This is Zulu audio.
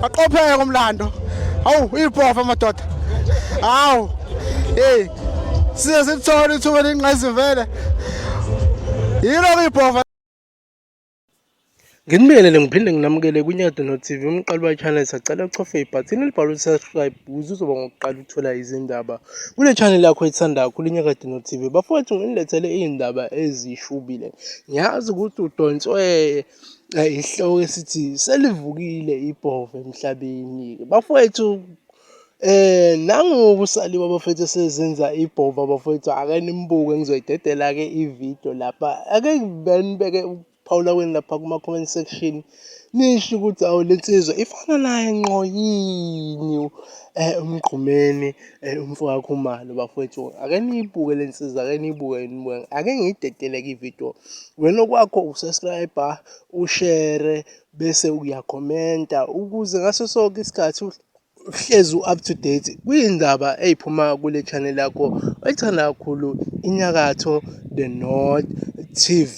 Aqopheke umlando. Hawu ipofa madoda. Hawu. Hey. Size sithole ithuba lenqazi vele. Yilo ipofa. Nginibiyelele ngiphinde nginamukele kwiNyado no-TV umqali we-channel sacela uchofe ibhathini elibhalwe subscribe ukuze uzoba ngokuqala ukuthola izindaba kule channel yakho ethanda kakhulu iNyakade no-TV bafowethu nginilethele iy'ndaba ezishubile ngiyazi ukuthi udonswe isihloko esithi selivukile ibhova emhlabeni bafowethu eh nangoku saliwa bafethu sezenza ibhova bafethu ake nimbuke ngizoyidedela ke ivideo lapha ake benibeke ukuphawula kweni lapha kuma comment section nisho ukuthi awu lensizwa ifana naye nqo yini eh umgqumeni Ey umfowakho umalo bafowethu ake niyibuke le nsiza ake niyibuke nibuke ake ngiyidedeleke ividiyo wena okwakho usubscribe ushare bese uyakhomenta ukuze ngaso sonke isikhathi uhlezi u-up to date kwiyindaba eyiphuma kule channel yakho oyithanda kakhulu inyakatho the north tv